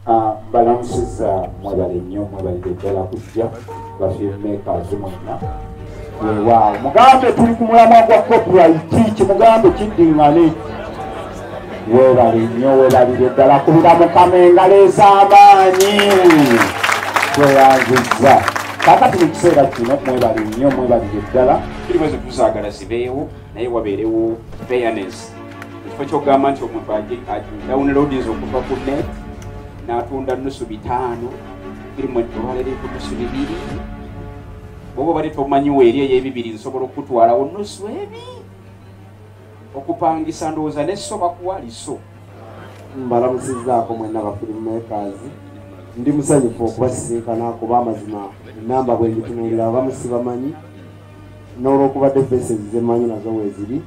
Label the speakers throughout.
Speaker 1: Ah, mbalamusiza mwebale nnyo mwebalire ddala kujja bafilmmakers mwenna wewaawo mugambe tuli ku mulamwa gwa copyright kimugambe kiddingane webale nnyo webalire ddala kubira mukama engalo ez'amaanyi tweyanzizza kakati mu kiseera kino mwebalire nnyo mwebalire ddala tuli bwezi tuzaagala zibeewo naye wabeerewo fairness ekifo kyogamba nti omuntu downloadinza okuva ku net n'atunda nusu bitaano firimu olwaleero eku nusu bibiri bwoba obadde tomanyiwo eri ey'ebibiri nsobola okukutwalawo nusu ebi okupangisa ndowooza neso bakuwa liso
Speaker 2: mbalamusizaako mwena bafirimu makers ndi musanyufu okubasisinkana kuba amazima enamba bwenjitunulira abamusibamanyi n'olwokubadde faces zemanyi nazo weeziri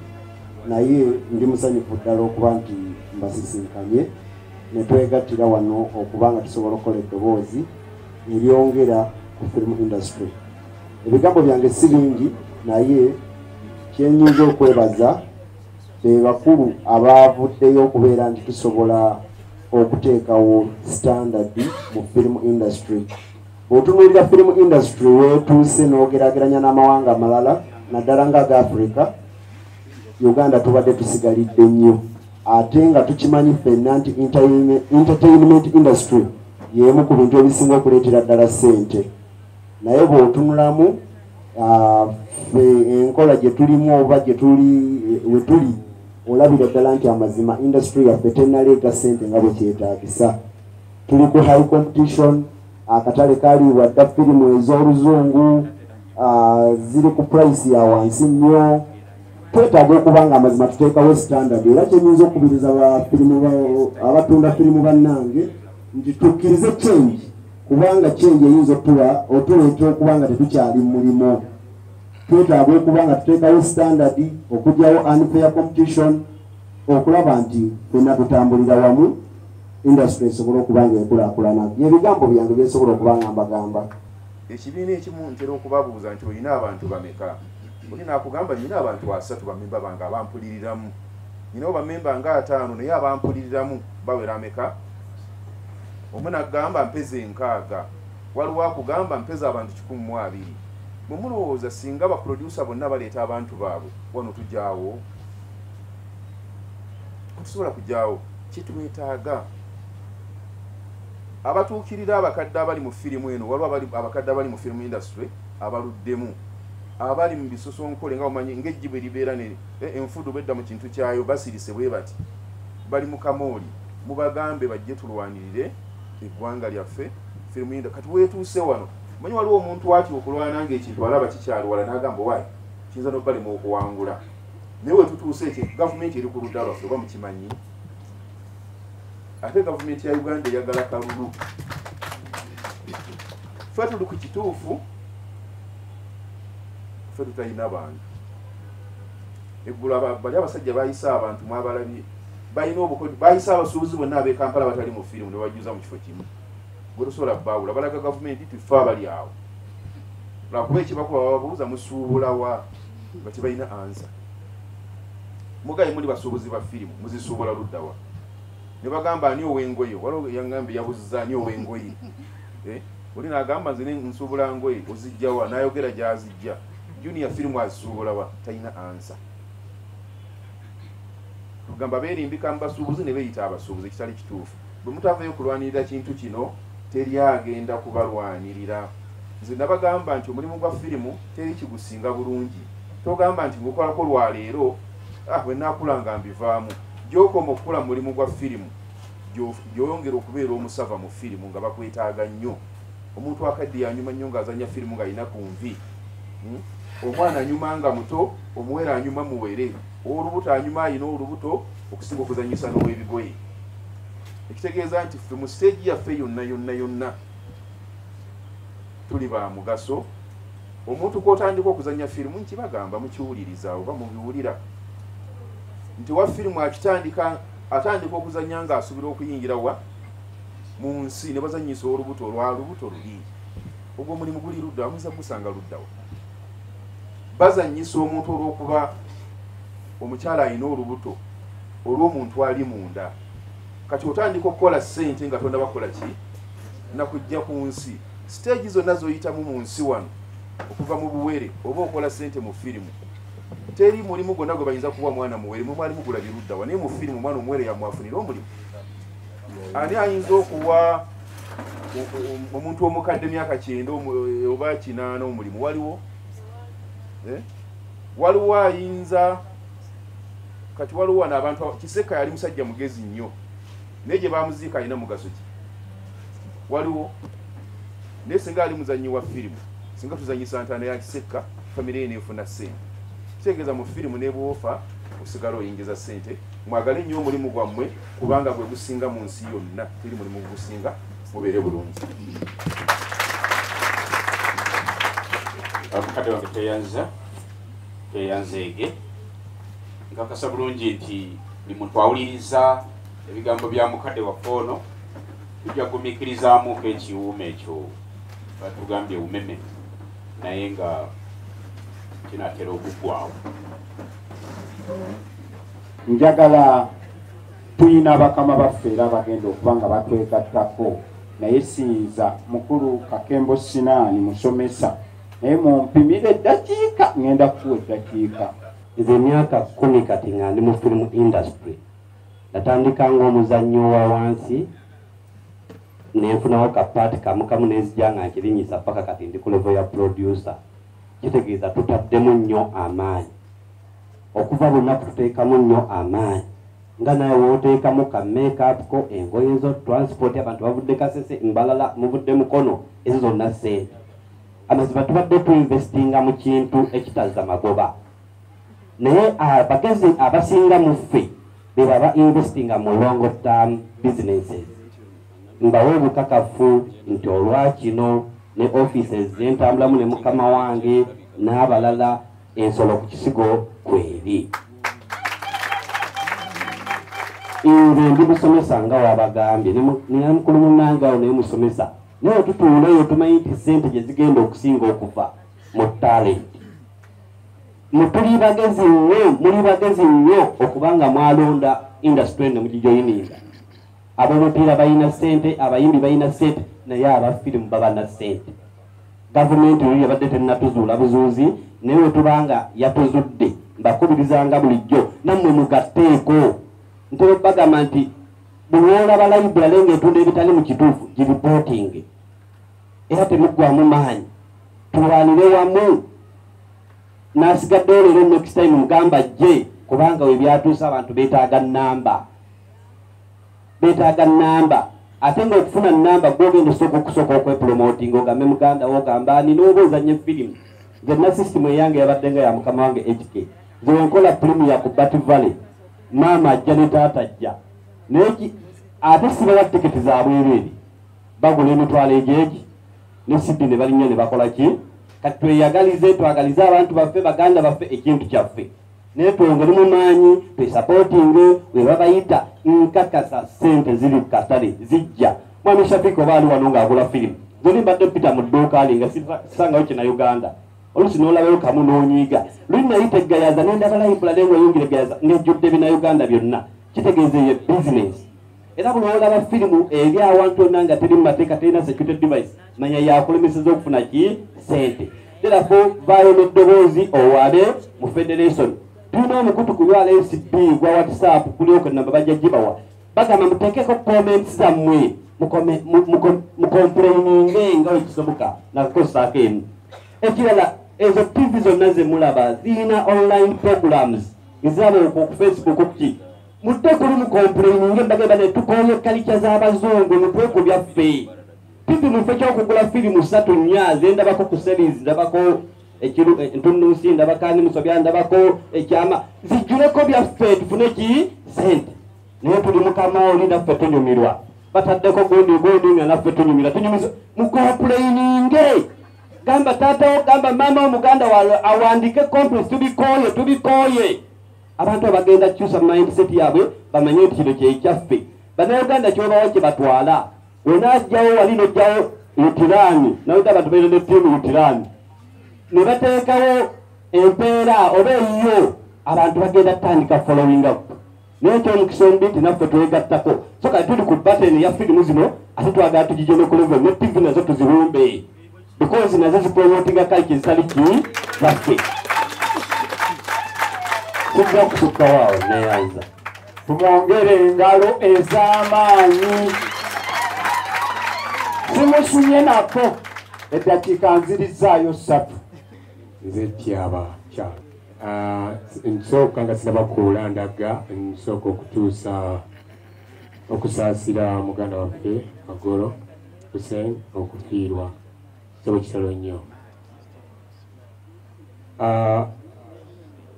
Speaker 2: naye ndi musanyufu ddala okuba nti mbasisinkanye ne twegattira wano okuba nga tusobola okukola eddoboozi eryongera ku film industry ebigambo byange si bingi naye kyenyinza okwebaza be bakulu abaavuddeyo okubeera nti tusobola okuteekawo standard mu film industry Bw'otunuulira firimu indasitule w'etuuse n'ogerageranya n'amawanga amalala naddala nga aga Afirika, Uganda tubadde tusigalidde nnyo ate nga tukimanyi ffenna nti entertainment industry y'emu ku bintu ebisinga okuleetera ddala ssente naye bw'otunulamu ah, fe enkola gye tulimu oba gye tuli we tuli olabira ddala nti amazima indasitule yaffe tenaleeta ssente nga bwe kyetaagisa tuli ku high competition akatale kaliibwa dda firimu ez'oluzungu ziri ku purayisi ya wansi nnyo twetaaga okuba nga amazima tuteekawo standard era kyenyinza okukubiriza abatunda firimu bannange nti tukkirize change kubanga change eyinza otuwa otuleeta okuba nga tetukyali mulimu twetaaga okuba nga tuteekawo standard okugyawo unfair competition okulaba nti fenna tutambulira wamu industry esobole okuba nga ekulakulana byebigambo byange byensobola okuba nga mbagamba ekibiina
Speaker 3: ekimu ntera okubabuuza nti olina abantu bameka oli nakugamba nyina abantu asatu bamemba bange abampuliriramu nyinawo bamemba nga ataano naye abampuliriramu bawera ameka omu nagamba mpeza enkaaga waliwo akugamba mpeza abantu kikumi mu abiri bwe mulowooza singa baproducer bonna baleeta abantu baabwe wano tujaawo tetusobola kugyawo kyetwetaaga abatuukirira abakadde abali mu firimu eno waliwo abakadde abali mu firimu industry abaluddemu abali mu bisosonkole nga omanyi ngaejji bwe libeera ne eh, enfudu bedda mu kintu kyayo basirise bwe bati bali mu kamooli mubagambe bajje tulwanirire eggwanga lyaffe firimu indo kati wetuuse wano manyi waliwo omuntu atya okulwana ngaekintu alaba kikyaliwala nagamba wayi kiyinza nobalema okuwangula naye wetutuuse ekyo gavumenti eri ku ludda lwaffe oba mukimanyi ate gavumenti ya uganda eyagala kalulu fe tuli ku kituufu fe tutalina bantu eggula bali abasajja bayise abantu mwabalabye balina obukodyo bayise abasuubuzi bonna abekampala batali mu firimu nebajjuza mu kifo kimu gwe tosobola baawula balaga gavumenti nti ffe abali awo lwakuba ekibakuba bababuuza musuubulawa nga tebalina ansa mugaye muli basuubuzi ba firimu muzisuubula luddawa ne bagamba ani ow'engoye waliwo yaŋŋambye yabuziza ani ow'engoye eh? oli nagamba nze nsuubula ngoye ozijjawa nayogera gyazijja junior firimu azisuubulawa talina ansa tugamba berimbika mubasuubuzi ne beyita abasuubuzi ekitali kituufu bwe mutavayo kulwanirira kintu kino teri agenda kubalwanirira nze nabagamba nti omulimu gwa firimu teri kigusinga bulungi togamba nti ngukolako lwaleero ah, wenakula nga mbivaamu gyokoma okukula mu mulimu gwa firimu gyoyongera okubeera omusava mu firimu nga bakwetaaga nnyo omuntu akadde yanyuma nnyo ngaazanya firimu nga alina ku nvi hmm? omwana anyuma nga muto omuwere anyuma muwere owolubuto anyuma alina olubuto okusinga okuzanyisa n'owebigoye ekitegeeza nti ffe mu siteegi yaffe yonna yonna yonna tuli ba mugaso omuntu kwotandika okuzanya firimu nkibagamba mukiwuliriza oba mubiwulira nti wa firimu akitandika atandika okuzanya nga asubira okuyingira wa mu nsi ne bazanyisa olubuto olwa lubuto luli ogwo omulimu guli ludda amuza gusanga luddawo bazanyisa omuntu olwokuba omukyala alina olubuto olwomuntu ali munda kati otandika okukola sente nga tonda bakola ki nakujja ku nsi siteegi zonna zoyitamu mu nsi wano okuva mu buwere oba okola sente mu firimu teri mulimu gwonna gwe bayinza kuwa mwana muwere mwe mwali mugula biruddawa naye mu firimu omwana omuwere yamwafunira omulimu ani ayinza okuwa omuntu omukadde myaka kyenda oba kinaana omulimu waliwo eh? waliwo ayinza kati waliwo wano abantu kiseka yali musajja mugezi nnyo naye gye bamuziika alina mugaso ki waliwo naye singa ali muzannyi wa firimu singa tuzanyisa ntaana ya kisekka famire ye neefuna ssente kitegeeza mu firimu nebwofa osigala oyingiza ssente mwagale nnyo omulimu gwammwe kubanga gwe gusinga mu nsi yonna teri mulimu gusinga mubeere bulungi
Speaker 1: abukadde wange tweyanza tweyanzeege nkakasa bulungi nti bimutwawuliriza ebigambo bya mukadde waffe ono tujja kugumiikirizamuko ekiwuuma ekyo batugambye umeme naye nga kinatera okuggwawo
Speaker 4: njagala tulina bakama baffe era abagenda okuba nga batwegattako naye siyinza mukulu kakembo sinaani musomesa naye mumpimira eddakiika ŋenda kuwa eddakiika nze emyaka
Speaker 5: kumi kati nga ndi mu firimu industry natandika ngaomuzannyo wa wansi nenfunawo kapaati kamukamu nenzija nga nkirinyisa paka kati ndi ku levo ya producer kitegeeza tutaddemu nnyo amaanyi Okuva lunaku tuteekamu nnyo amaanyi nga nawe woteekamu ka makeup ko engoye zo transport abantu bavudde kasese mbalala muvudde mukono ezo zonna sente amazima tubadde tuinvestinga mu kintu ekitazza magoba naye abagezi ah, abasinga mu ffe beba ba investinga mu long term businesses mbawe obukakafu nti olwakino ne offices zentambulamu ne mukama wange n'abalala ensolo ku kisigo kweri nze ndi musomesa nga wabagambye nemukulu munange awo naye musomesa naye otutuula eyo tumanyi nti sente gyezigenda okusinga okuva mu talent mutuli bagezi nnyo muli bagezi nnyo okuba nga mwalonda industry ene mugijoyininga abomupiira balina sente abayimbi balina sente naye abafirimu babana sente gavumenti eyo yabadde tennatuzuula buzuuzi naye wetuba nga yatuzudde mbakubirizanga bulijjo nammwe mugatteeko ntera okubagamba nti buli olaba layiburale ngaetunda ebitali mu kituufu giripootinge era temuggwamu maanyi tulwanire wamu nasigaddeyo leero next time mugamba jje kubanga webyatuuse abantu betaaga namba betaaga namba ate nga okufuna namba gwogenda osooka okusooka okwepromotinga ogambe muganda wo ogamba ani nooba ozanye firimu nze na sisitimu eyange yabadde nga ya mukama wange hk zewenkola firimu ya ku bat valley maama ajja ne taata ajja naye ate sibawa tiketi za bwereeri bagula emitwalo egyeki ne sidi ne balinnya ne bakola ki kati tweyagalize twagalize abantu baffe baganda baffe ekintu kyaffe naye twongere mu maanyi twesapotinge webabayita nkakasa sente ziri katale zijja mwami shafika oba ali wano ng'agula firimu zoli mbadde pita mu dduuka li nga sisangayo kina uganda olusi nolabayo kamu nonyiiga luli nayita eggayaza nendabalayimbula naye nga oyongera eggayaza ngejjudde bina uganda byonna kitegeeza eyo bizinesi era buli olaba firimu eri awantu onna nga teri mu mateeka terina security device manya yakulemeseza okufuna ki sente terafo vaayo n'eddoboozi owale mu federation tulina omukutu ku ywala fcb gwa whatsapp kulyoka namba bajja gibawa bagamba muteekeko comments zammwe mukompuleyininge nga wekisoboka nakukosaako emu ekirala ezo tv zonna zemulaba zirina online programs eziraba okwo ku facebook okuki mudde kuli mukompuleyininge bagenda ne tukooye kalica z'abazungu mutwe ku byaffe pipi mufe kyokugula firimu satu nnya zendabako ku series ndabako entunnunsi ndabako ani musobya ndabako ekyama zijjuleko byaffe tufune ki sente naye tuli mukama oli naffe tunyumirwa bataddeko gundi gundi nga naffe tunyumirwa tunyumiza mukompuleyininge gamba taata wo gamba maama omuganda wa awandike complex tubikooye tubikooye abantu abagenda kukyusa mindset yaabwe bamanye nti kino kyekyaffe banauganda kyobawo kyebatwala onajjawo wali nojjawo utirani naweta abantu baire ne tiimu utirani ne bateekawo empeera oba eyiyo abantu bagenda kutandika following up naye ekyomukisa omubi nti naffe twegattako so kati tuli ku batten ya firimu zino ate twagala tugijene ku level ne tivi nazo tuziwumbe because nazo zipromotinga kaliki zitali ki zaffe kijja kutukawo awo neyanza tumwongere
Speaker 4: engalo ez'amaanyi zimusunye nako eddakiika nzirizaayo ssatu nze
Speaker 6: tyaba kyalo ah, nsooka nga sinabakuula ndaga nsooka okutuusa okusaasira muganda waffe magolo Hussein okufiirwa kitabo kitalo nnyo ah,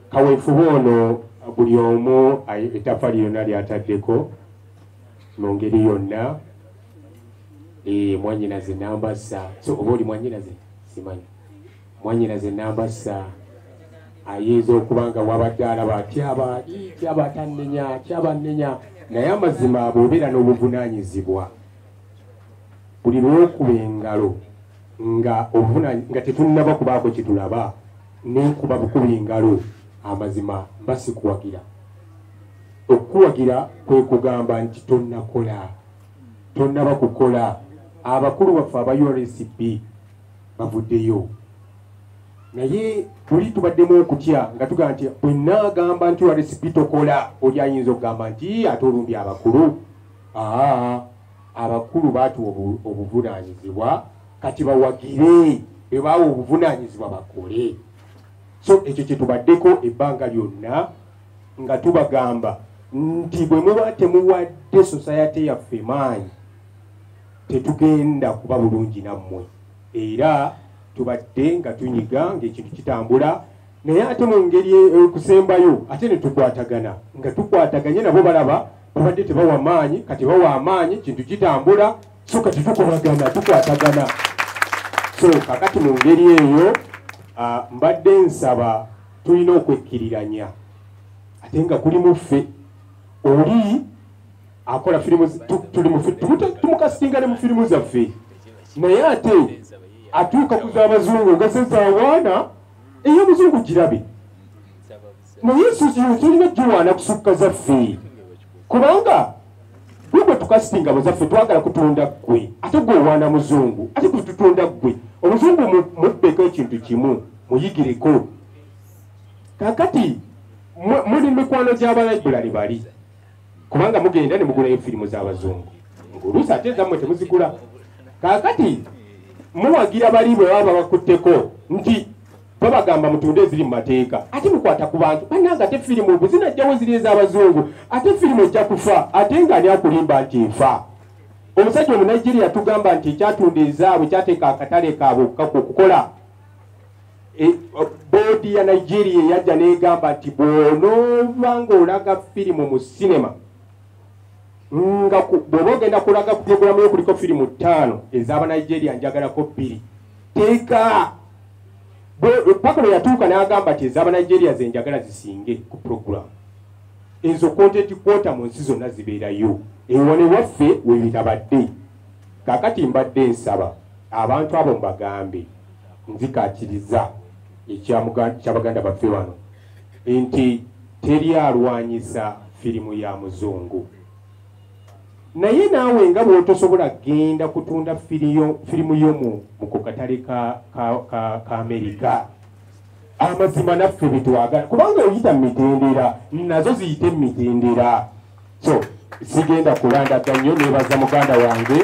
Speaker 6: kaweefube ono buli omu etafa lyona lyataddeko mu ngeri yonna eh, mwanyinaze namba sa so oba oli mwanyinaze simanyi mwanyinaze namba sa ayinza okuba nga wabadde alaba atyaba tyaba tannenya tyaba nnenya naye amazima bwobeera n'obuvunanyizibwa buli lwokuba engalo nga obuvuna nga tetunnaba kubaako kyetulaba nenkuba bukuba engalo amazima mba sikuwagira okukuwagira kwe kugamba nti tonnakola tonnaba kukola abakulu baffe aba ursb bavuddeyo naye tuli tubaddemu okutya nga tugamba nti bwenaagamba nti ursb tokola oli ayinza okugamba nti ate olundi abakulu aa abakulu baatuwa obuvunaanyizibwa kati bawagire bebaawa obuvunaanyizibwa bakole so ekyo kyetubaddeko ebbanga lyonna nga tubagamba nti bwe muba temuwadde sosayate yaffe maanyi tetugenda kuba bulungi nammwe era tubadde nga tunyiga ngaekintu kitambula naye ate mu ngeri ekusembayo e, ate ne tukwatagana nga tukwataganye nabo balaba babadde tebawa maanyi kati bawa amaanyi kintu kitambula so kati tukubagana tukwatagana so kakati mu ngeri eyo mbadde nsaba tulina okwekkiriranya ate nga kuli muffe oli akola firimu tumukasitinga ne mu firimu zaffe naye ate atuuka ku z'abazungu nga sezawaana ey'omuzungu girabe naye suzio tulina giwaana kusukka zaffe kubanga gwe gwe tukasitinga buzaffe twagala kutunda ggwe ate gwe owaana muzungu ate gwe tutunda ggwe omuzungu mubbeko ekintu kimu muyigireko kakati muli mikwano gy'abalaibulali bali kubanga mugenda ne mugulayo firimu z'abazungu ngulusi ate ezammwe temuzigula kaakati muwagira bali bwe baba bakutteko nti babagamba mutunde eziri mu mateeka ate mukwata ku bantu bananga ate firimu obu zinajjawo ziri ez'abazungu ate firimu ejja kufa ate nga ani akulimba nti efa omusajja omunigeria tugamba nti ekyatunda ezaabwe kyateeka akatale kaabwe okukaku okukola E, boodi ya nigeria eyajja negamba nti bwonooba ngaolaga firimu mu sinema nga bwoba ogenda kulaga ku pulogulamu yo kuliko firimu ttaano ezabanigeria njagalako bbiri teeka paka lwe yatuuka n'agamba nti ezabanigeria zenjagala zisinge ku pulogulamu ezo kontenti kwota mu nsi zonna zibeerayo ewone waffe webitabadde kakati mbadde nsaba abantu abo mbagambe nzikakiriza ekyabaganda baffe bano nti teri alwanyisa firimu ya muzungu naye naawe nga bwotosobola genda kutunda firimu yomu mukukatale ka, ka, ka, ka amerika amazima naffe betwagala kubanga oyita mumitendera nazo ziyite mumitendera so sigenda kulandaga nnyo nebaza muganda wange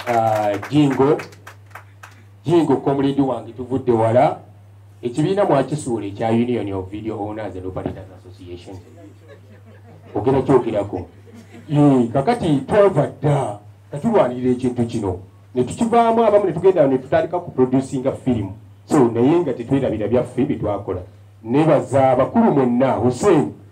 Speaker 6: uh, jingo jingo komuledi wange tuvudde wala ekibiina mwakisuula ekya union of video owners and operators association ogera kyogerako kakati twava dda katulwanirira ekintu kino netukivaamu abamu netugenda netutandika ku producinga firimu so naye nga tetwerabira byaffe byetwakola nebaza bakulu mwenna hussein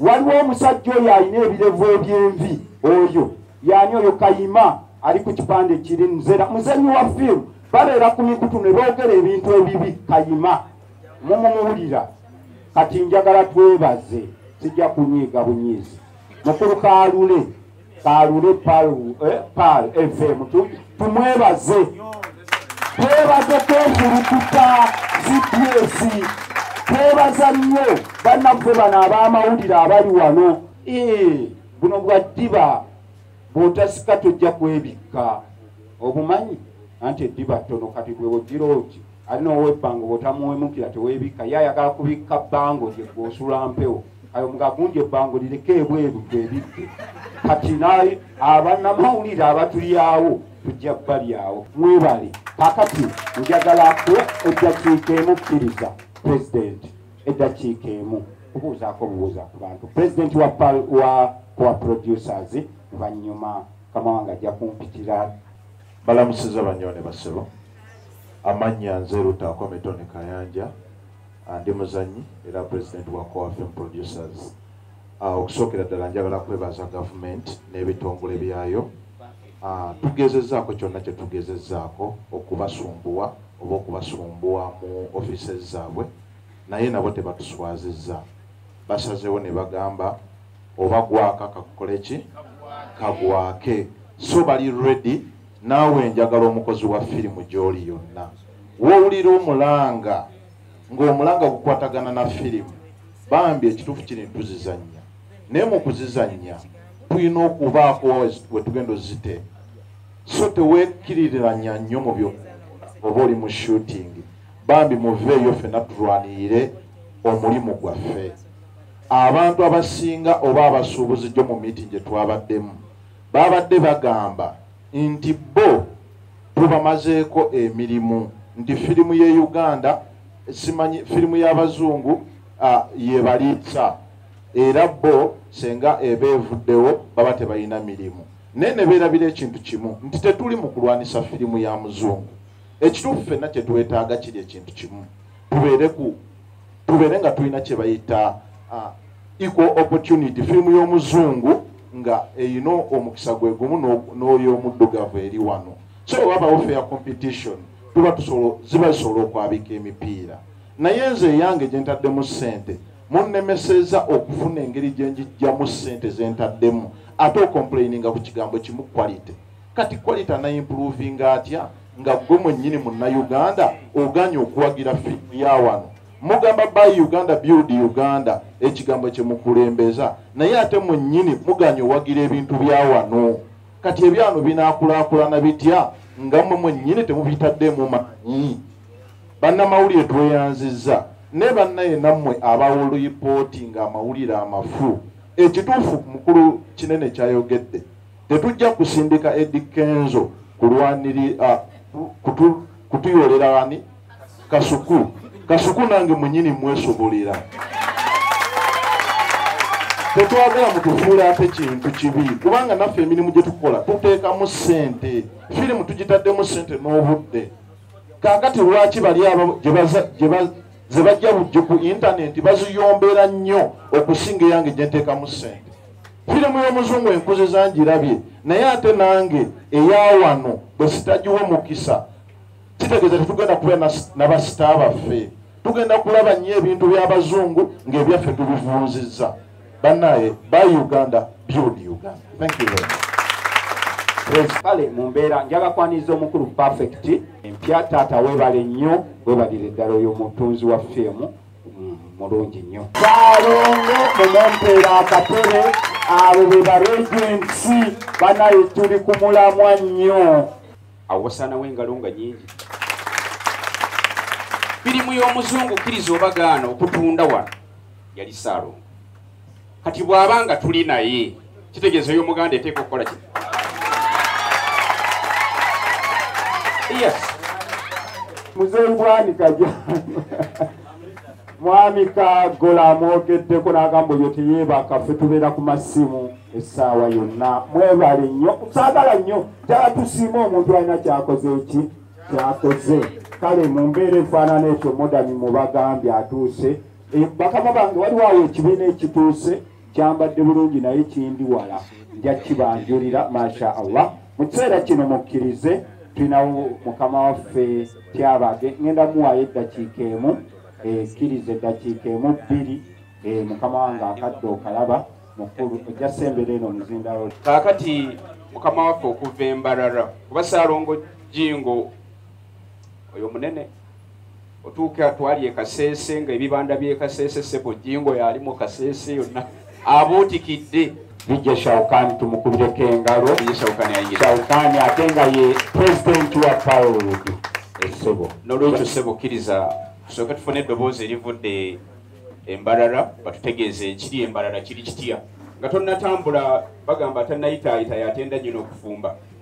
Speaker 4: waliwo omusajja oyo alina ebirevu ebyenvi oyo yani oyo kayima ali ku kipande kiri nzera muzanyi wa fiimu babeera ku mikutu ne boogera ebintu ebibi kayima mumumuwulira kati njagala twebaze sijja kunyiiga bunyiizi mukulu kaalule kalule pal fm tumwebaze twebaze kwefulukuta gps twebaza nnyo bannaffe bano ab'amawulire abali wano buno bwa ddiba bw'otasika tojja kwebikka obumanyi anti eddiba ttono kati bwewogiroogi ali nowebbango bwotamuwemukira tewebikka ye ayagala kubikka bbango lye gwosula mpewo ayo mugagunja ebbango lireke ebweru twebidde kati naye abanamawulire abatulyawo tujja balyawo mwebale kakati njagala ku eddakiika emu kkiriza pulezidenti eddakiika emu kubuuzaako obubuuza ku bantu pulezidenti wa wa producers vanyuma kama wanga jakumpitira balamusiza
Speaker 7: banyone basebo amannya nze lutaako metoni kayanja andi muzanyi era president wa coafm producers ah, okusookera ddala njagala kwebaza gavumenti n'ebitongole byayo ah, tugezezaako kyonna kye tugezezaako okubasumbuwa oba okubasumbuwa mu offices zaabwe naye nabo tebatuswaziza basazewo ne bagamba oba gwaka kakukole ki kagwake so bali ready naawe njagala omukozi wa firimu gy'oli yonna wowulira omulanga ng'omulanga gukwatagana na firimu bambi ekituufu kiri ntuzizannya naye mu kuzizannya tulina okubaako we tugenda ozite so tewekkiririranya nnyo mu byo oba oli mu shooting bambi muveeyo ffena tulwanirire omulimu gwaffe abantu abasinga oba abasuubuzi gyo mu miiti gye twabaddemu Baabadde bagamba nti bo tubamazeeko emirimu nti firimu y'e Uganda simanyi firimu y'Abazungu yebaliisa era bo senga eba evuddewo baba tebalina mirimu naye ne beerabira ekintu kimu nti tetuli mu kulwanisa firimu ya muzungu ekituufu fenna kye twetaaga kiri ekintu kimu tubeere ku tubeere nga tulina kyebayita uh, equal opportunity firimu y'omuzungu nga erina omukisa gwe gumu n'oyomuddugavu eri wano so wabawo fair competition tuba ziba zisobola okwabika emipiira naye nze eyange gye ntaddemu ssente munnemeseza okufuna engeri gye njijjamu ssente ze ntaddemu ate okomplaininga ku kigambo kimu quality kati quality ana improvinga atya nga gwe mwennyini munnayuganda oganye okuwagira fiimu ya wano mugamba by uganda build uganda ekigambo kyemukulembeza naye ate mwennyini muganye owagira ebintu bya wano kati ebyano binakulakulana bitya nga mwe mwennyini temubitaddemu maanyi bannamawulire tweyanzizza ne bannaye nammwe abawoluyipooti nga amawulire amafu ekituufu mukulu kinene kyayogedde Tetujja kusindika Eddy Kenzo kulwanirira kutuyolera ani kasuku kasuku nange munyini mwesobolera tetwagala mutufuula ate kintu kibi kubanga naffe emirimu gye tukola tuteekamu ssente firimu tugitaddemu ssente n'obudde kaakati lwaki bali abo ze bajja bujjo ku intanenti baziyombeera nnyo okusinga eyange gye nteekamu ssente firimu y'omuzungu enkuzi zangirabye naye ate nange eyawano bwe sitagiwa omukisa kitegeeza tetugenda kubeera nabasita baffe tugenda kulaba nnyo ebintu by'abazungu ng'ebyaffe tubivuunzizza banaye by uganda build uganda thank you very much kale mu mbeera
Speaker 4: njaga kwaniriza omukulu perfect empya taata webale nnyo webalire eddala oyo omutunzi wa fiimu mulungi nnyo balongo mumumpeera akatere abo be baregensi banaye tuli ku mulamwa nnyo awosaanawo
Speaker 1: engalo nga nyingi firimu y'omuzungu kkiriza obagaana okutunda wano yali saalongo kati bw'aba nga tuli naye kitegeeza oyo omuganda eteeka okukola ki yes
Speaker 4: muzeeyi bwanika ja mwami kagola amwogeddeko n'agamba oyo teyeebaka ffe tubeera ku masimu essaawa yonna mwebale nnyo saagala nnyo jala tusiima omuntu alina kyakoze eki kyakoze kale mu mbeera efaanana ekyo modani mubagambye atuuse Eh, bakama bange waliwo awo ekibiina ekituuse kyambadde bulungi naye kindi wala nja kibanjulira masha allah mu kiseera kino mukkirize tulinawo mukama waffe kyabage ŋenda muwaayo eddakiika emu ekkiriza eh, eddakiika emu bbiri eh, mukama wange akadde okalaba mukulu ojja sembera eno muzindalo kaakati
Speaker 1: mukama waffe okuva embarara kuba saalongo jingo oyo munene otuuka twali ekaseese nga ebibanda byekaseese sebo jingo yali mu kaseese yonna abuutikidde bijja
Speaker 4: shaukani tumukubireko engalo shaukani ate nga ye pulezidenti wa pawulood esebo nolwekyo sebo
Speaker 1: kkiriza tusooke tufune eddoboozi erivudde embalala batutegeeza ekiri embalala kiri kitya nga tonnatambula bagamba atanayitaayita yatenda nyina okufumba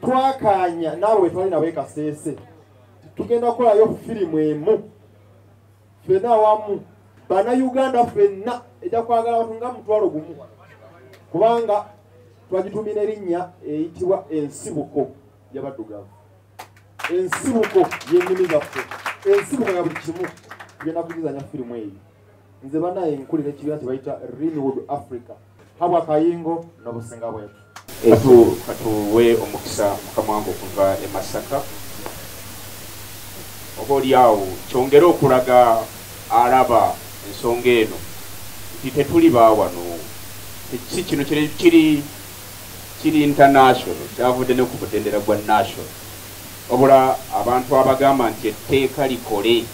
Speaker 8: twakaanya naawe wetwali nawe kaseese tugenda kukolayo firimu emu fena awamu banauganda fenna ejja kwagala abantu nga mutwalo gumu kubanga twagitumina erinnya eyitibwa ensibuko yabaddugavu ensibuko yenimi zaffe ensibuko ya buli kimu tugenda kugizanya firimu eyo nze banaye nkulira ekibiina kyebayita renewed africa habwa kayingo nobusinga bwetu etu katuwe
Speaker 1: omukisa mukamwange okuva e masaka oba oli awo kyongere okulaga alaba ensonga eno nti tetuli bawano si kino kiri kiri international kyavudde ne ku mutendera gwa national wabula abantu abagamba nti etteeka likole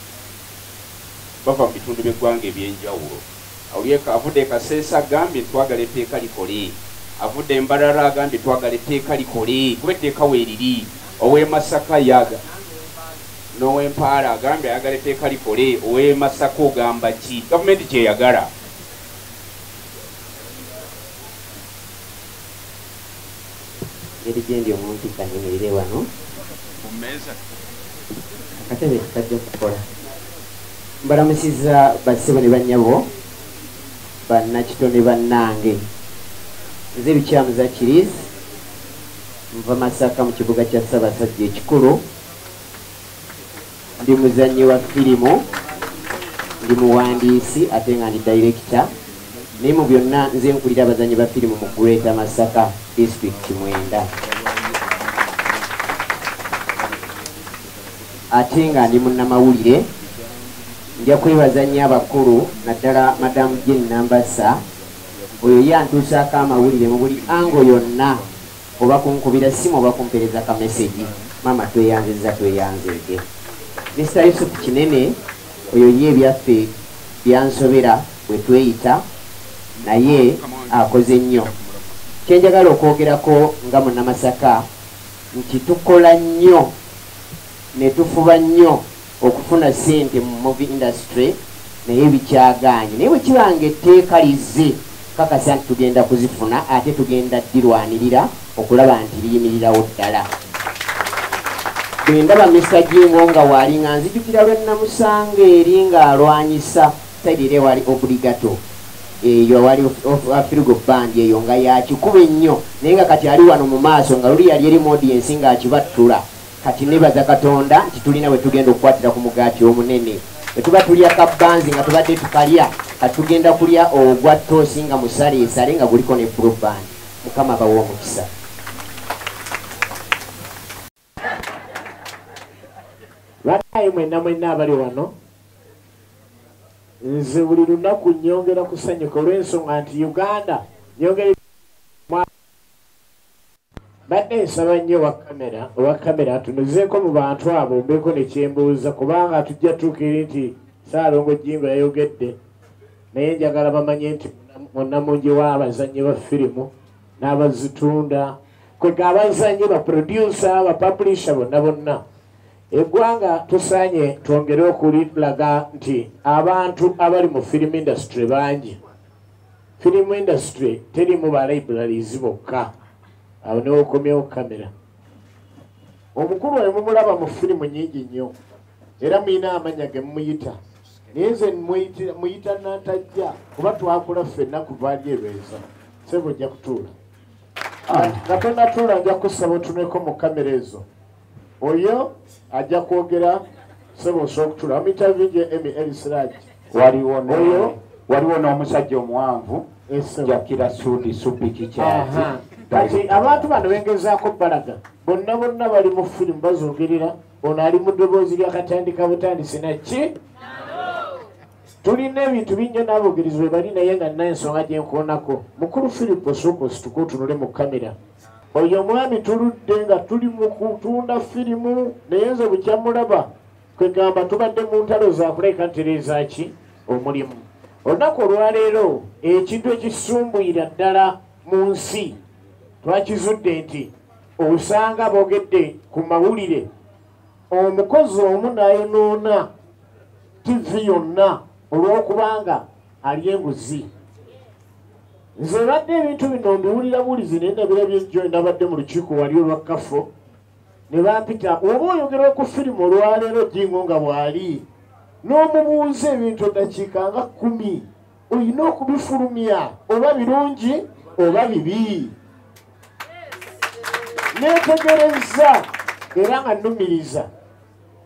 Speaker 1: bava mu bitundu by'eggwanga eby'enjawulo. Awulyeka avudde e Kasese agambye nti twagala etteeka likole, avudde e Mbarara agambye twagala etteeka likole kuba etteeka weeriri, ow'e Masaka ye aga, n'ow'e Mpaala agambye ayagala etteeka likole, ow'e Masaka ogamba ki? Gavumenti ky'eyagala.
Speaker 9: Ngeri gyendi omuntu kanyimirire wano. Ku mmeeza. Akatebe kajja kukola. Mbalamusizza bassebo ne bannyabo bannakito ne bannange. Nze Lukyamuza Kiriizi nva Masaka mu kibuga kya Ssabasajja ekikulu. ndi muzannyi wa firimu ndi muwandiisi ate nga ndi dayirekita naye mu byonna nze nkulira abazannyi ba firimu mu greata masaka disitulikiti mwenda ate nga ndi munnamawulire nja kwebaza nnyo abakulu naddala madamu jenambasa oyo ye antuusaako amawulire mu buli ango yonna oba kunkubira ssimu oba kumpereza ka mesegi maama tweyanzizza tweyanzeege mr yusufu kinene oyo ye ebyaffe byansobera bwe tweyita naye akoze nnyo kyenjagala okwogerako nga munamasaka nti tukola nnyo ne tufuba nnyo okufuna sente mu movie industry naye bikyaganye naye bwekibanga etteeka lizze kakasa nti tugenda kuzifuna ate tugenda dirwanirira okulaba nti liyimirirawo ddala bwendaba misagingo nga waali nga nzijukira lwenamusanga eri ng'alwanyisa saidi era ewali obligato eyo wali afirigo bandi eyo nga yakikuba ennyo naye nga kati ali wano mu maaso nga luli yali eri mu odiensi ng'akibattula Kati nebaza Katonda nti tulina we tugenda okukwatira ku mugaati omunene. Bwe tuba tulya kabbanzi nga tubadde tukalya, kati tugenda kulya ogwa ttoosi nga musaleesale nga guliko ne blue band. Mukama abawa omukisa.
Speaker 10: Banaye mwenna mwenna abali wano, nze buli lunaku nnyongera kusanyuka olw'ensonga nti Uganda nnyongera badde nsaba nnyo owa kamera owa kamera atunuzeeko mu bantu abo mbeeko nekyembuuza kubanga tujja tuukire nti saalongo jingo yayogedde naye njagala bamanye nti munamungi w'abazannyi ba firimu n'abazitunda kwega abazannyi baprodusa bapublisha bonna bonna eggwanga tusaanye twongere okulilaga nti abantu abali mu firimu indasitule bangi film industry terimu ba libraries bokka awo newokomyewo kamera omukulu oyo mumulaba mu firimu nyingi nnyo era muyina amanya ge mumuyita naye nze muyita nantajja kuba twakula ffenna kuva ali erweza sebo ojja kutuula ah. nga tonatuula nja kusaba otuneko mu kamera ezo oyo ajja kwogera sebo osobola okutula omitavi gye emi erisiragi waliwo oyo
Speaker 4: waliwo n'omusajja omuwanvu jakira sudi supi kikyazi kati abantu
Speaker 10: bano bengezaako balaga bonna bonna bali mu firimu bazogerera ono ali mu ddoboozi lyakatandika butandisi nakki tulina ebintu bingi n'abogerezi bwe bali naye nga nina ensonga gyenkoonako mukulu firipo suuka osituka otunule mu kamera oyo omwami tuludde nga tuli mu kutunda firimu naye nze bukya mulaba kwegamba tubadde mu ntalo zakuleka ntereeza ki omulimu olunaku olwaleero ekintu ekisumbuyira ddala mu nsi twakizudde nti osanga boogedde ku mawulire omukozi omu nayonoona tivi yonna olw'okubanga alya enguzi nze badde ebintu bino mbiwulira bulizi naye nabira byejjo nabadde mu lukiiko wali olwa kafo ne bampita oba oyogera ku firimu olwaleero jingo nga bwali n'omubuuza ebintu eddakiika nga kkumi olina okubifulumya oba birungi oba bibi neetegerezza era nga nnumiriza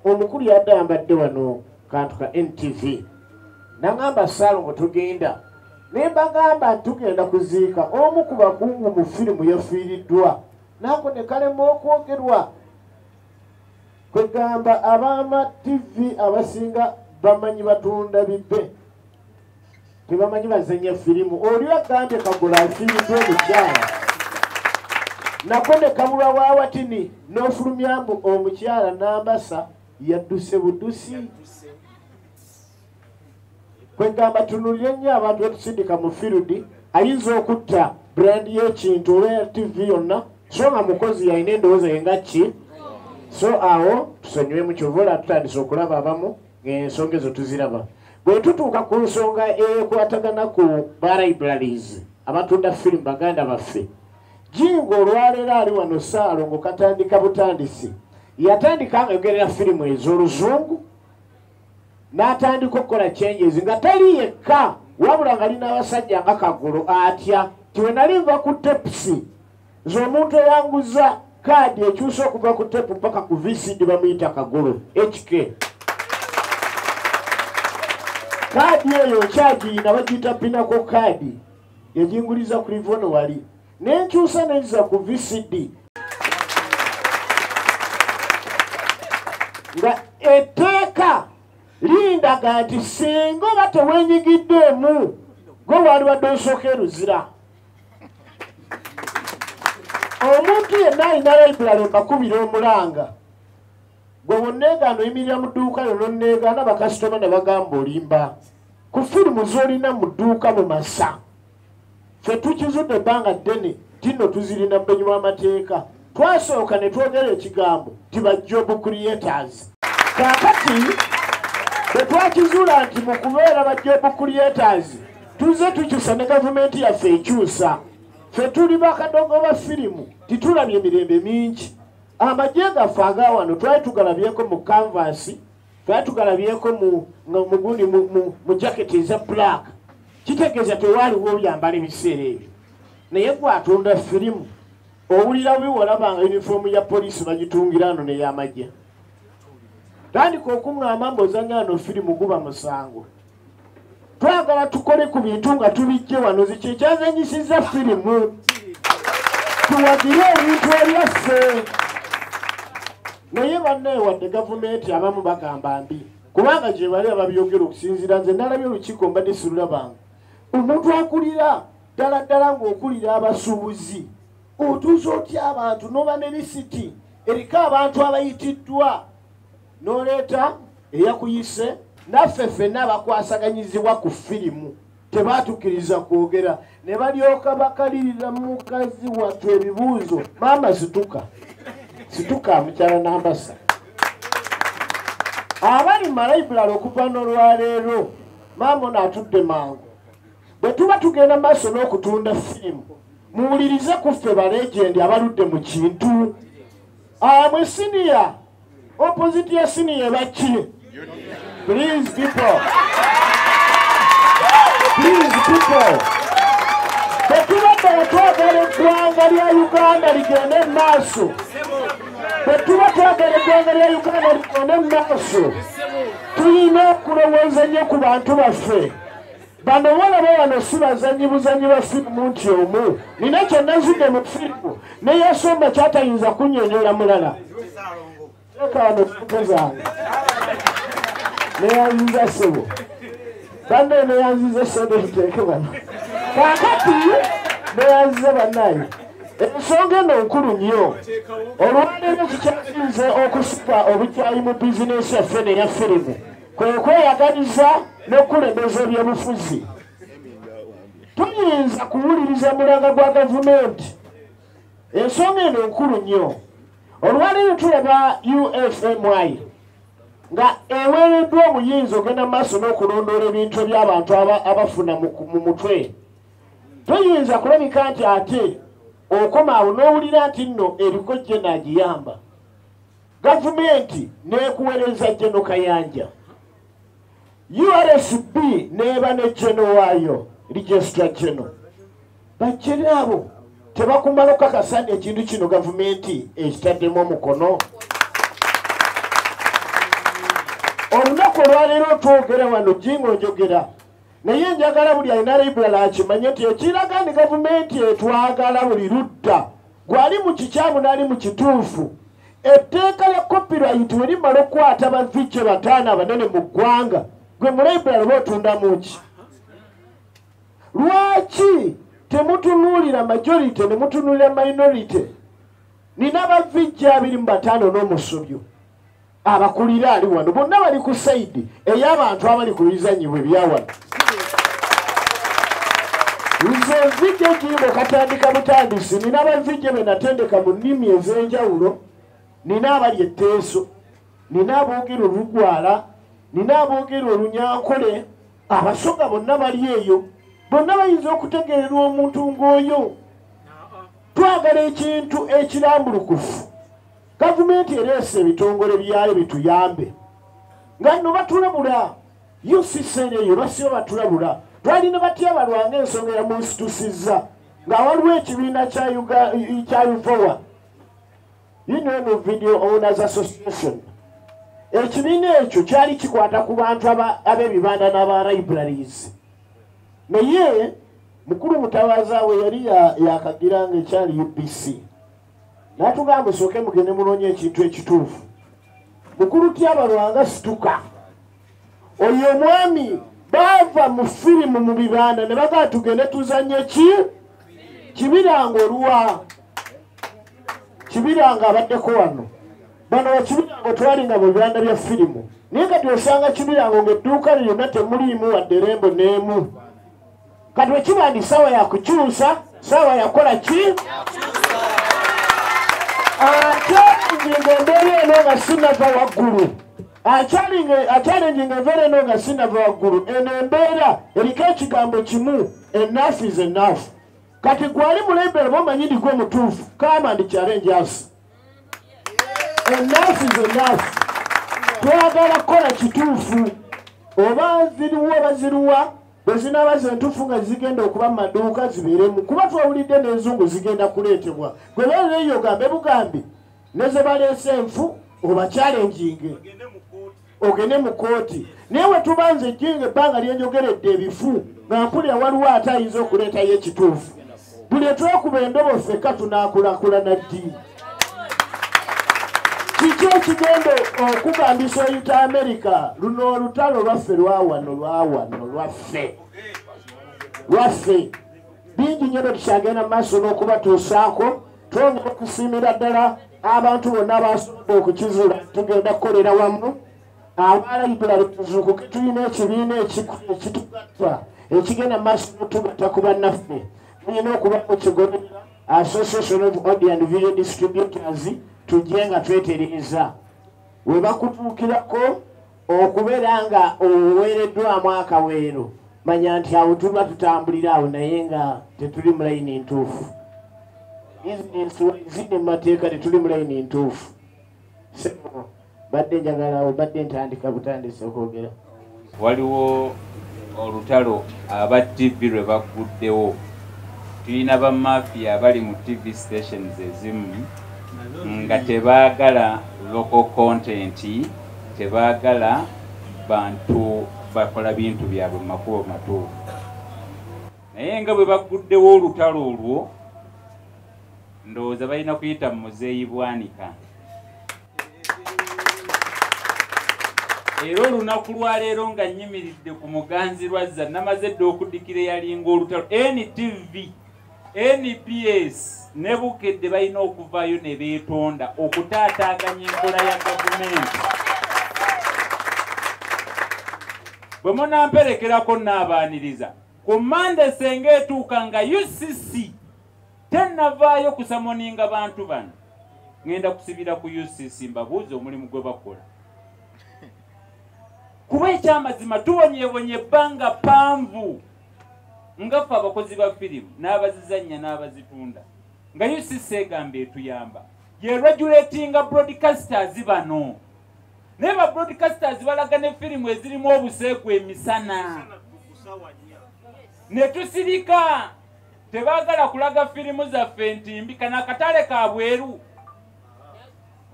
Speaker 10: omukulu yadde ayambadde wano kantu ka ntv nangamba salongo tugenda naye mbagamba tugenda kuziika omu ku bakungu mu firimu yafiiriddwa naako ne kalema okwogerwa kwegamba abaama ttivi abasinga bamanyi batunda bibe tebamanyi bazanya firimu oli agambye kagula asiridde omukyala nako ne kabulwa wa watini n'ofulumyamu omukyala n'ambasa yadduse budusi kwegamba tunulire nnyo abantu betusindika mu firidi ayinza okutta brandi y'ekintu oba ya tv yonna so nga mukozi yalina endowooza yenga ki so awo tusonyiwemu kyova ola tutandise okulaba abamu ensonga ezo tuziraba bwe tutuuka ku nsonga ekwatagana ku balibraries abatunda firimu baganda baffe jinga olwaleero ali wano saalo ngaokatandika butandisi yatandika ngayogerera firimu ez'oluzungu n'atandika okukola changes nga tali yekka wabula nga lin'abasajja nga kagulu atya tiwenali nva ku tepsi nze omuntu eyanguza kaadi ekyusa okuva ku tepu paka ku vcd bamuyita kagolo hk kaadi eyo nkyagiyina bagiyita pinako kaadi yajinguliza ku livono wali nenkyusa nenziza ku vcd nga etteeka lindaga nti singa oba tewenyigiddeemu gwe wali wadde osooka eruzira omuntu yenna alina laibulale mbakubira omulanga gwe wonneegaana oyimirira mu dduuka lyo nonneegaana bakasitoma ne bagamba olimba ku firimu z'olina mu dduuka mu masa ffe tukizudde ebbanga ddene tino tuzirina mu benyi bw'amateeka Twasooka ne twogera ekigambo nti ba job creators. Kaakati bwe twakizuula nti mu kubeera ba job creators tuzze tukyusa ne gavumenti yaffe ekyusa. Ffe tuli bakadogo ba firimu titulabye mirembe mingi. Amagye gaffe aga wano twali tugalabyeko mu kanvaasi twali tugalabyeko mugundi mu jaketi eza black kitegeeza tewaaliwo obyambala ebiseera ebyo naye gwatunda firimu owulira bubi wolaba nga yunifoomu ya poliisi bagitungira ano neyamagye tandika okuŋŋamba mbaozanya ano firimu guba musango twagala tukole ku bintu nga tubijje wano ziki ekyazanyisiza firimu tuwagire ebintu ebyaffe naye bannaye wadde gavumenti abamu bagamba mbi kubanga gyebali ababyogera okusinziira nze nalabye olukiiko mbadde sirulabange omuntu akulira ddala ddala ng'okulira abasuubuzi otuuza otya abantu n'oba ne lisiti eriko abantu abayitiddwa n'oleeta eyakuyise naffe ffenna abakwasaganyizibwa ku firimu tebaatukiriza kwogera ne balyoka bakalirira mukazi wattu ebibuuzo maama situka situka mukyala nambasa abali malayibulala okuva n'olwaleero maama ono atudde mangu bwe tuba tugenda mu maaso n'okutunda firimu muwulirize ku ffe balegendi abaludde mu kintu amwe siniya opposite ya siniya ebaki please people please people bwetubadde wetwagala eggwanga lya uganda ligende mu maaso bwetuba twagala eggwanga lya uganda ligende mu maaso tulina okulowooza nnyo ku bantu baffe Bano bolaba wano si bazanyi buzanyi ba firimu nti omu nina kyenazidde mu firimu ne yasomba kyatayinza kunyonyola mulala eka wano sente zange neyanziza sebo banne neyanziza esente ziteeke bano kakati neyanziza banaye ensonga eno nkulu nnyo olwaleero kikyasinze okusika obukyayi mu bizinensi yaffe neya firimu kwe kweyaganiza n'okukulembeza ebyobufuzi tuyinza kuwuliriza mulanga gwa gavumenti ensonga eno nkulu nnyo olwaleero tulaba ufmy nga eweereddwa omuyinza ogenda mu maaso n'okulondoola ebintu eby'abantu abafuna mu mutwe toyinza kulabika nti ate okomaawo n'owulira nti nno ebikojje naagiyamba gavumenti n'ekuwereza geno kayanja ursb neeba ne geno waayo registra geno bajjere abo tebakumala okukakasa nti ekintu kino gavumenti ekitaddemu omukono olunaku olwaleero twogera wano jinga onjogera naye njagala buli alina librala akimanye nti ekiraga ni gavumenti etwagala buli ludda gwe ali mu kikyamu n'ali mu kituufu etteeka lya copyright we limala okukwata bavice bataano abanene mu ggwanga gwe mu library oba otundamu ki lwaki temutunuulira majority ne mutunuulira minority nina bavice abiri mu bataano n'omusubyo abakulira ali wano bonna bali ku saidi ey'abantu abali ku bizanyibwa ebyawano nze nzijja ekiyimba okatandika butandisi nina banzijja be natendeka mu nnimi ez'enjawulo nina abali etteeso nina aboogera olugwala nina aboogera olunyankole abasoga bonna bali eyo bonna bayinza okutegererwa omuntu ng'oyo twagala ekintu ekirambulukufu gavumenti ereese ebitongole byayo bituyambe nga no batulabula ucc neyo basiba batulabula twalina batya balwanga ensonga yamunsitusiza nga waliwo ekibiina kya uvowa union of video owners association ekibiina ekyo kyali kikwata ku bantu ab'ebibanda n'aba libraries naye mukulu mutawaza we yali yakagira nga ekyali ubc natugamba esooke mugende munoonya ekintu ekituufu mukulu tyaba lwanga situka oyo omwami baava mu firimu mu bibanda ne bagaa tugende tuzanye ki kibiranga oluwa kibiranga abaddeko wano bano bakibirango twali nga bwebanda bya firimu naye kati osanga kibirango ngaedduuka lyonna temuliimu wadde rembo n'emu kati wekiba ndi sawa yakukyusa sawa yakola ki ate njinga embeera eno nga sinava waggulu akyalinjinga embeera eno nga sinava waggulu eno embeera eriko ekigambo kimu enafu is enafu kati gwali mulembe oba omanyi ndigwe omutuufu kama ndikyala enjasi enafu is enafu twagala kukola kituufu oba ziriwa oba ziriwa bwe zinaaba ze ntuufu nga zigenda okuba mu maduuka zibeeremu kuba twawulidde n'enzungu zigenda kuleetebwa gwe beerera eyo ogambe bugambi ne ze baleese enfu obakyale enjinge ogende mu kooti naye we tuba nze ejjinga ebbanga lyenjogeredde ebifu nga mpulira waliwo ate ayinza okuleetayo ekituufu buli etwekuba endobo ffeka tunakulakulana ddi kiki ekigenda okugambisa oyuta amerika luno olutalo lwaffe lwawano lwawano lwaffe lwaffe bingi nyo bwetukyagenda mu maaso n'okubatuusaako twongera okusiimira ddala abantu bonna abasobola okukizula tugenda kukolera wamu abaalabikula betuzuukuke tulina ekibiina ekitugatta ekigenda maaso notugatta ku bannaffe tulina okubamu kigoberera association of audio and video distributors tujje nga twetereeza we bakutuukirako okubeera nga oweereddwamu akaweero manya nti awo tuba tutambulira awo naye nga tetuli mu layini ntuufu bizinensi ziri mu mateeka tetuli mu layini ntuufu badde njagala obadde ntandika butandisi okwogera waliwo
Speaker 11: olutalo aba tv lwe bagguddewo tulina bamafiya abali mu tv stations ezimu nga tebaagala local content tebaagala bantu bakola bintu byabwe mumakubo matuufu naye nga bwe bagguddewo olutalo olwo ndowooza balina kuyita mu muzeeyi bwanika era olunaku lwaleero nga nyimiridde ku muganzi lwazza namaze dda okuddikira eyalinga olutalo ntv nbs ne bukedde balina okuvaayo ne beetonda okutaataaganya enkola ya gavumenti bwe munamperekerako naabaaniriza ku mande senga etuuka nga ucc tennavaayo kusamoninga bantu bano ŋenda kusibira ku ucc mbabuuza omulimu gwe bakola kuba ekyamazima tubonyebonye ebbanga panvu nga ffe abakozi ba firimu n'abazizannya n'abazitunda nga ucc egamba etuyamba yeregulatinga broadcasters bano naye ba broadcasters balaga ne firimu ezirimu obuseegu emisana ne tusirika tebaagala kulaga firimu zaffe nti mbi kana akatale ka bweru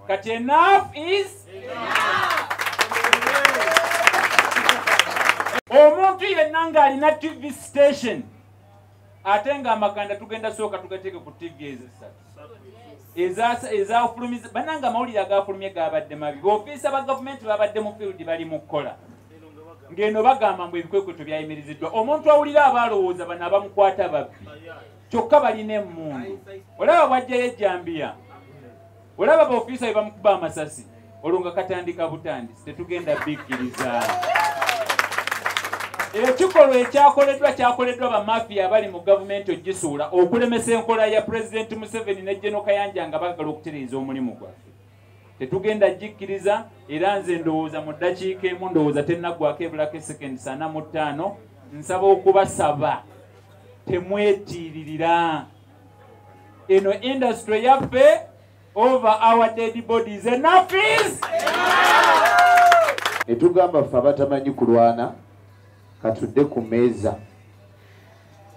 Speaker 11: kati enough is omuntu yenna ng'alina tv station ate ng'amakanda tugenda sooka tugateeke ku tv ezisatu ezafulumiza bananga amawulire agafulumye gabadde mabi baofiisa ba gavumenti babadde mu field bali mu kukola ng'eno bagamba mbu ebikwekweto byayimiriziddwa omuntu awulira aba alowooza bano abamukwata babbi kyokka balina emmundu olaba bwajjayo ejjambiya olaba baofiisa be bamukuba amasasi olwo nga katandika butandisi tetugenda bikkiriza ekikolwa ekyakoleddwa kyakoleddwa bamafiya abali mu gavumenti ogisuula okulemesa enkola ya pulezidenti museveni ne genokayanja nga bagala okutereeza omulimu gwaffe tetugenda gikkiriza era nze ndowooza mu ddakiika emu ndowooza tennaggwako ebulako esekendi sana mu ttaano nsaba okubasaba temwetiiririra eno industry yaffe over our dead bodies enough is
Speaker 7: etugamba ffe abatamanyi kulwana katudde ku meeza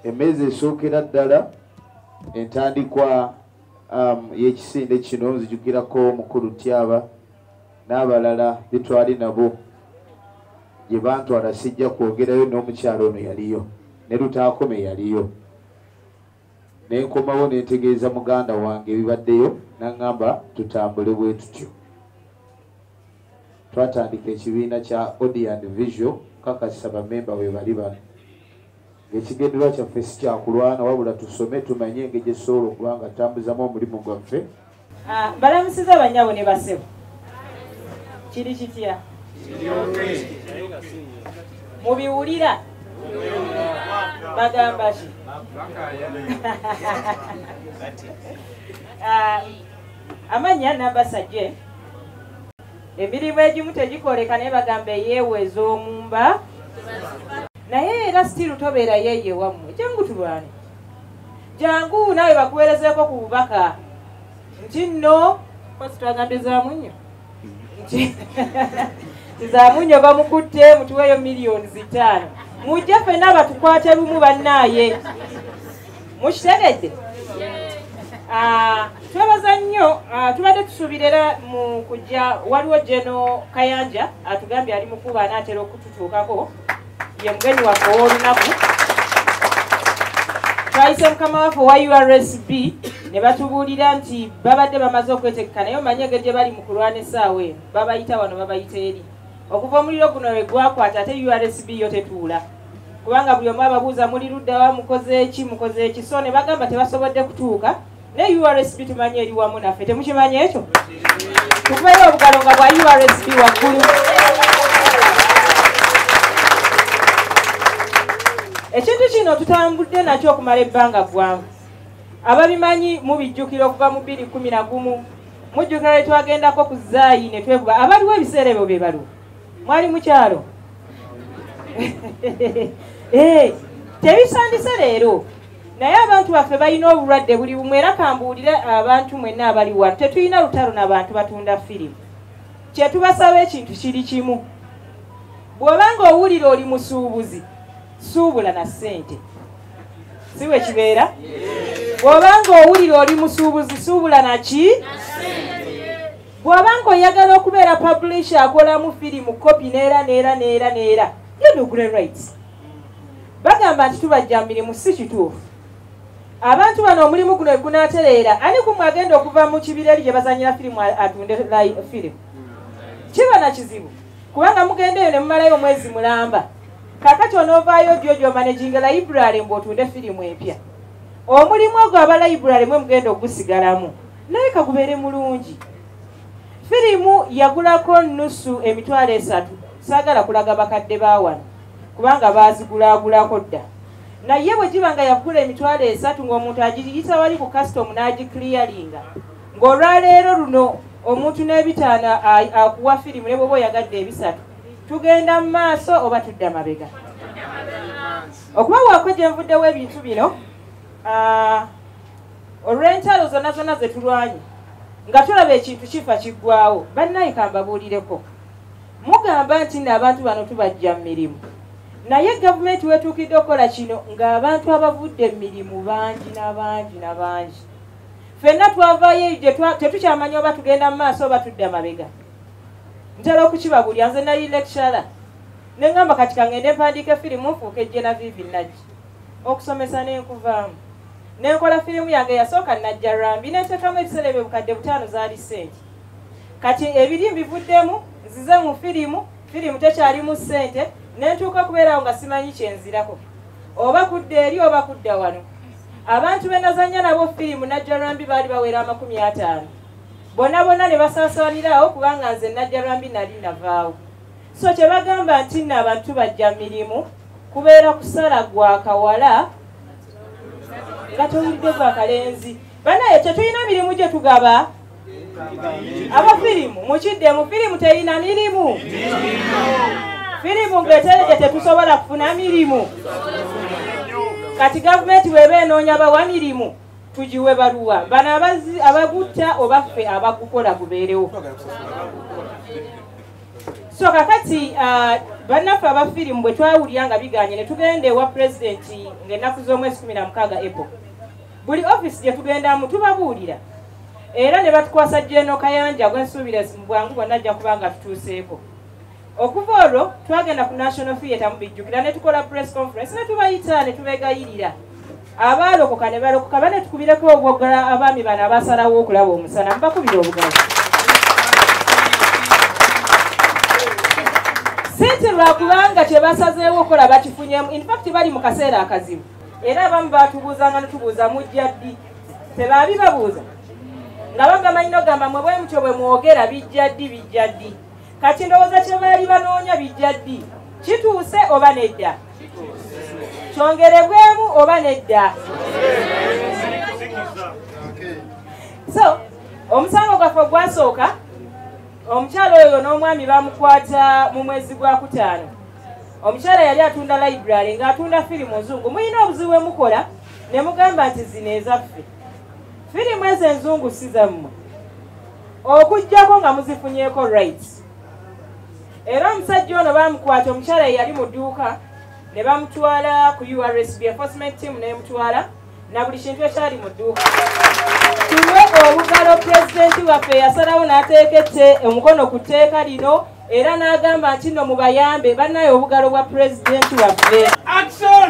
Speaker 7: emeeza esookera ddala entandikwa um, yekisinde kino nzijukirako mukulu tyaba n'abalala betwali nabo gye bantwala sijja kwogerayo n'omukyalo ono yaliyo ne lutaakome yaliyo ne nkomawo ne ntegeeza muganda wange ebibaddeyo naŋŋamba tutambule bwe tutyo twatandika ekibiina kya audio and visual kakasa bamemba bwe bali bano ekigendererwa kyaffe si kyakulwana wabula tusome tumanye engeri gyetusobola okuba nga tambuzamu omulimu
Speaker 12: gwaffe
Speaker 7: ah,
Speaker 12: balamusiza
Speaker 7: abanyabo ne
Speaker 12: basebo kiri kitya mubiwulira bagamba ki ah, amanya namba sajje emirimu egimu tegikoleka naye bagamba eyeewa ez'omumba naye era sitiiru tobeerayo eyewammwe jangu tulwane jangu naawe bakuweerezeeko ku bubaka nti nno kosi twagambye zaamu nnyo nti zaamu nnyo bamukutte mutuweeyo miliyoni zitaano mujja fenna batukwate lumu bannaaye mukitegedde ah, twebaza nnyo ah, tubadde tusuubira era mu kujja waliwo jeno kayanja atugambye ali mukuba anaatera okututuukako ye mugenyi waffe ow'olunaku twayise mukama waffe owa ursb ne batubuulira nti babadde bamaze okwetegeka naye omanyi engeri gye bali mu kulwana essaawa eno babayita wano babayita eri okuva omuliro guno lwe gwakwata ate ursb yo tetuula kubanga buli omu ababuuza muli luddawa mukozeeki mukozeeki so ne bagamba tebasobodde kutuuka ne ursb tumanyi eri wamu naffe temukimanyi ekyo tukubeera obugalo nga bwa ursb waggulu ekintu kino tutambudde nakyo okumala ebbanga ggwangu ababimanyi mubijjukira okuva mu bbiri kumi na gumu mujjukira lwe twagendako ku zaayi ne twekuba abaliwo ebiseera ebyo be baliwo mwali mukyalo eh, tebisandise leero naye abantu baffe balina obulwadde buli bumu era kambuulire abantu mwenna abali wano tetulina lutalo na bantu batunda firimu kyetubasaba ekintu kiri kimu bw'obanga owulira oli musuubuzi suubula na ssente si bwe kibeera bw'obanga owulira oli musuubuzi suubula naki bw'oba nga oyagala okubeera publisha akolamu firimu kopi neera neera neera neera yodugre rights bagamba nti tubajja mirimu si kituufu abantu bano omulimu guno egunatereera ani kumwe agenda okuva mu kibira eri gye bazanyira firimu atunde firimu kiba na kizibu kubanga mugenda eyo ne mumalayo omwezi mulamba kakati onoovaayo dyo gyomanaginga layiburale mbu otunde firimu empya omulimu ogwo aba layiburale mwe mugenda okugusigalamu naye kagubeere mulungi firimu yagulako nusu emitwalo esatu saagala kulaga bakadde bawano kubanga baazigulaagulako dda naye bwe giba nga yagula emitwalo esatu ng'omuntu agiyisa wali ku kasitomu n'agikiliyaringa ng'olwaleero luno omuntu n'ebitaano akuwa firimu ne bwoba oyagadde ebisatu tugenda mu maaso oba tudda mabega okuba waako gye nvuddewo ebintu bino olw'entalo zonna zonna ze tulwanye nga tulaba ekintu kifa kiggwawo bannaye kambabuulireko mugamba nti nno abantu bano tubajja mu mirimu naye gavumenti wetuukidde okukola kino ng'abantu abavudde mu mirimu bangi nabangi nabangi fenna twavayo tetukyamanya oba tugenda mu maaso oba tudda mabega ntera okukibabulya nze nali lecturer ne ŋŋamba kati kangende mpandiika efirimu nfuuka ejjena vivi nagi okusomesa n'enkuvaamu nenkola firimu yange eyasooka najja rambi neteekamu ebiseera ebyo bukadde butaano zaali sente kati ebiri mbivuddemu nzize mu firimu firimu tekyalimu sente nentuuka okubeerawo nga simanyi kyenzirako oba kudda eri oba kudda wano abantu benazanya nabo firimu najja rambi baali bawera amakumi ataano bona bona ne basaasaaniraawo kubanga nze najja rambi nali navaawo so kyebagamba nti nno abantu bajja mirimu kubeera kusala gwa kawala nga towulidde gwa kalenzi banaye tetulina mirimu gye tugaba aba firimu mukiddemu firimu terina mirimu firimu ngetereje tetusobola kufuna mirimu kati gavumenti weba enoonya bawa mirimu tugiwe baluwa bano abagutta oba ffe abagukola gubeerewo so kakati uh, bannaffe aba firimu bwe twawulira nga biganye ne tugenda ewa pulezidenti ng'ennaku z'omwezi kumi na mukaaga epo buli ofiisi gye tugendamu tubabuulira era ne batukwasa jeno kayanja gwensuubira mu bwangu bwonna ajja kuba nga tutuuseeko okuva olwo twagenda ku national theatre mubijjukira ne tukola press conference ne tubayita ne tubegayirira abaalokoka ne balokoka bane tukubireko obwogala abaami bano abasalawo okulaba omusana mubakubira obugalo sente lwakubanga kyebasazeewo okukola bakifunyemu infact bali mu kaseera akazibu era abamu batubuuzanga netubuuza mujja ddi tebaabi babuuza nga bagamanyi nogamba mwe bwemutyo bwe mwogera bijja ddi bijja ddi kati ndowooza kye baali banoonya bijja ddi kituuse oba nedda kyongerebwemu oba nedda so omusango gwaffe ogwasooka omukyala oyo n'omwami bamukwata mu mwezi gwa kutaano omukyala yali atunda library ng'atunda firimu nzungu mulina obuzibu bwe mukola ne mugamba nti zino ezaffe firimu ezo enzungu si zammwe okugyako nga muzifunyeko rights era omusajja ono bamukwata omukyala yeyali mu dduuka ne bamutwala ku ursb enforcement team nemutwala na buli kintu ekyali mu dduuka tuwe obugalo pulezidenti waffe yasalawo n'ateeka ette omukono ku tteeka lino era n'agamba nti no mubayambe bannaye obugalo bwa pulezidenti waffe action